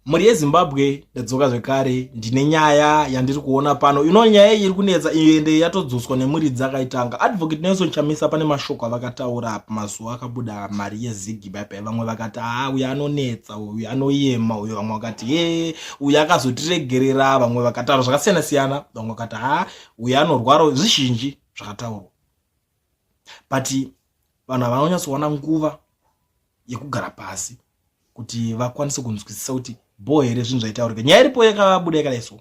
mhuri yezimbabwe ndadzoka zvekare ndine nyaya yandiri kuona pano ino nyaya iyi iri kunetsa iyo ende yatodzoswa nemhuri dzakaitanga advocate nelson chamisa pane mashoko avakataura pamazuva akabuda mari yezigi baibai vamwe vakati haa uyo anonetsa uyo anoyema uyo vamwe vakati ye uyo akazotiregerera vamwe vakataura zvakasiyana siyana vamwe vakati haa uyo anorwara zvizhinji zvakataurwa but vanhu havanyatsowana nguva yekugara pasi kuti vakwanise kunzwisisa kuti bho here zvinhu zvaitaurika nyaya iripo yakabuda yakadai so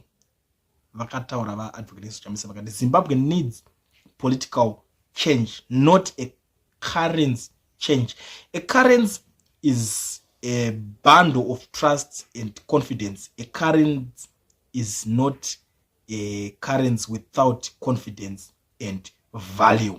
vakataura vaadvocate sochamisa vakati zimbabwe needs political change not a currency change a currency is a bundle of trust and confidence a currency is not a currency without confidence and value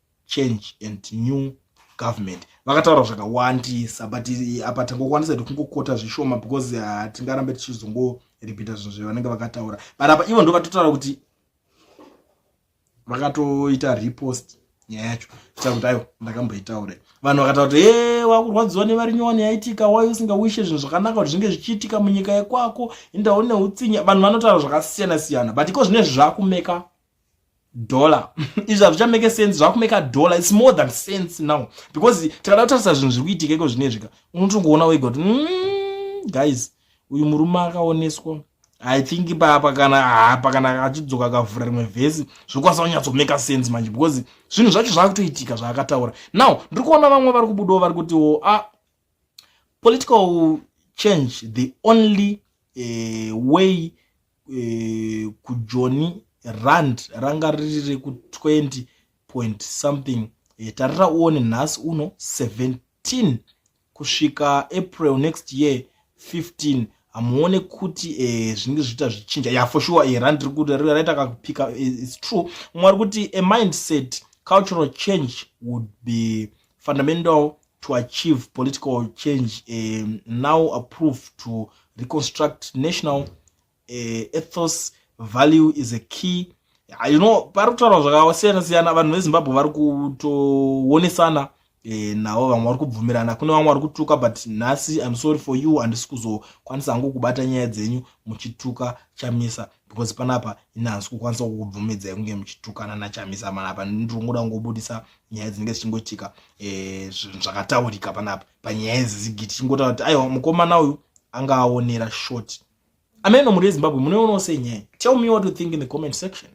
change and new government vakataura zvakawandisa but apa tangokwanisa kuti kungokota zvishoma because hatingarambe tichizongoripita zvinhu zvavanenge vakataura but apa ivo ndo vatotaura kuti vakatoita repost nyaya yacho ita kuti ayo ndakamboitaure vanhu vakataura kuti e wakurwadziwa nevari nyowani yaitika wai usingawishe zvinhu zvakanaka kuti zvinge zvichiitika munyika yekwako indawo neutsinye vanhu vanotaura zvakasiyana siyana but iko zvine zvakumeka dollar izvi hazvichameke sense zvakumeka dollar its more than sense now because tikada kutarisa zvinhu zviri kuitika iko zvinezvika unotongoona wega kuti mm, guys uyu murume akaoneswa i think papa kana hapa kana achidzoka akavhura rimwe vhesi zvokwanisa kunyatsomaker sense manje because zvinhu zvacho zvaakutoitika zvaakataura now ndiri kuona vamwe vari kubudawo vari kutiwo a ah, political change the only uh, way uh, kujoni rand ranga riri reku 20 point something uh, tarira uone nhasi uno 17 kusvika april next year 15 hamuone kuti eh, zvinenge zviita zvichinja ya for sure eh, rand raita kakupika eh, its true mwari kuti a mindset cultural change would be fundamental to achieve political change uh, now approved to reconstruct national uh, ethos value is a key ah, you know pari kutaurwa zvakasiyana siyana vanhu vezimbabwe vari kutoonesana eh, navo vamwe vari kubvumirana kune vamwe vari kutuka but nhasi im sorry for you handisi kuzokwanisa hangu kubata nyaya dzenyu muchituka chamisa because panapa ini hansi kukwanisa kukubvumidzai kunge muchitukana nachamisa panapa ndirongoda kungobudisa nyaya dzinenge dzichingoitika eh, zvakataurika panapa panyaya idzi zigi tichingotaura kuti aiwa mukomana uyu anga aonera short ameno muri ezimbabwe munoionawo sei nyaya tell me what you think in the comment section